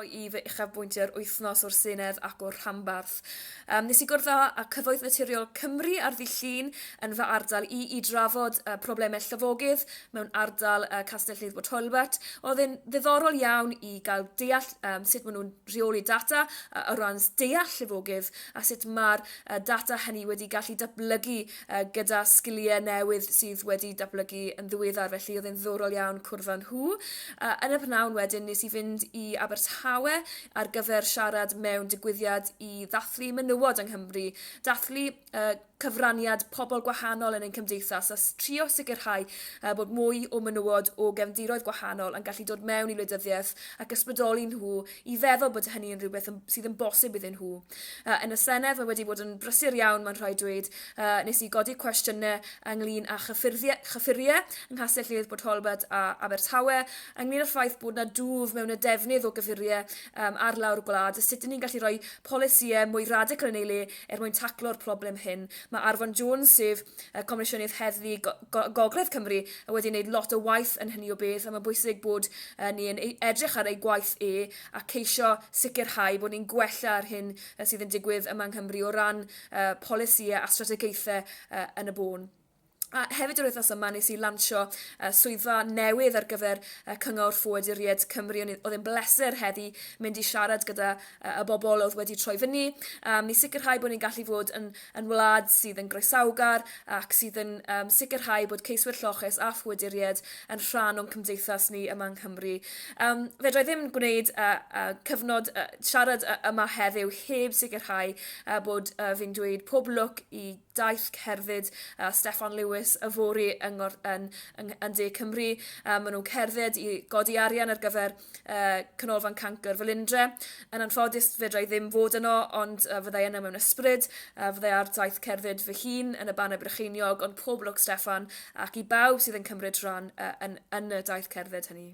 i fy uchafbwyntiau'r wythnos o'r Senedd ac o'r rhanbarth. Um, nes i gwrdd â Cyfoeth Naturiol Cymru ar ddi llun yn fy ardal i i drafod uh, problemau llyfogydd mewn ardal uh, Castell Nedd Bod Holbert. Oedd yn ddiddorol iawn i gael deall um, sut maen nhw'n rheoli data uh, o ran deall llyfogydd a sut mae'r uh, data hynny wedi gallu datblygu yy gyda sgilie newydd sydd wedi datblygu yn ddiweddar felly oedd e'n ddiddorol iawn cwrdd â nhw. Yy yn y prynhawn wedyn nes i fynd i Abertawe ar gyfer siarad mewn digwyddiad i ddathlu menywod yng Nghymru, dathlu yy cyfraniad pobl gwahanol yn ein cymdeithas a s- trio sicrhau yy bod mwy o menywod o gefndiroedd gwahanol yn gallu dod mewn i wleidyddiaeth ac ysbrydoli nhw i feddwl bod hynny yn rhywbeth yn- sydd yn bosib iddyn nhw. uh, yn y Senedd. Mae wedi bod yn brysur iawn, mae'n rhaid dweud. Uh, nes i godi cwestiynau ynglyn â chyffuriau, chyffuriau yng Nghastell Lledd, Port Holbert a Abertawe, ynglyn â'r ffaith bod yna dwf mewn y defnydd o gyffuriau um, ar lawr gwlad, sut ydyn ni'n gallu rhoi polisïau mwy radical yn ei le er mwyn taclo'r problem hyn. Mae Arfon Jones, sef uh, Comisiynydd Heddlu Go Go Gogledd Cymru, wedi gwneud lot o waith yn hynny o beth, a mae'n bwysig bod uh, ni'n e-, edrych ar ei gwaith e, a ceisio sicrhau bod ni'n gwella'r hyn yy sydd yn digwydd yma yng Nghymru o ran yy polisïau a strategaethau yy yn y bôn. A hefyd yr wythnos yma nes i lansio uh, swyddfa newydd ar gyfer uh, Cyngor Ffoaduriaid Cymru. Oedd e'n bleser heddi mynd i siarad gyda uh, y bobl oedd wedi troi fyny. Um, ni sicrhau bod ni'n gallu fod yn yn wlad sydd yn groesawgar ac sydd yn um, sicrhau bod ceiswyr lloches a phwyduried yn rhan o'n cymdeithas ni yma yng Nghymru. Um, fedra i ddim gwneud uh, uh, cyfnod uh, siarad uh, yma heddiw heb sicrhau uh, bod uh, fi'n dweud pob lwc i daith cerdded uh, Steffan Lewis y fori yng, yn, yn, yn De Cymru. Uh, maen nhw'n cerdded i godi arian ar gyfer uh, Canolfan Cancr Felindre. Yn anffodus, fedra i ddim fod yno, ond uh, fyddai yno mewn ysbryd. Uh, fyddai ar daith cerdded fy hun yn y Banau Brycheiniog, ond pob lwc Stefan, ac i bawb sydd yn cymryd rhan uh, yn, yn y daith cerdded hynny.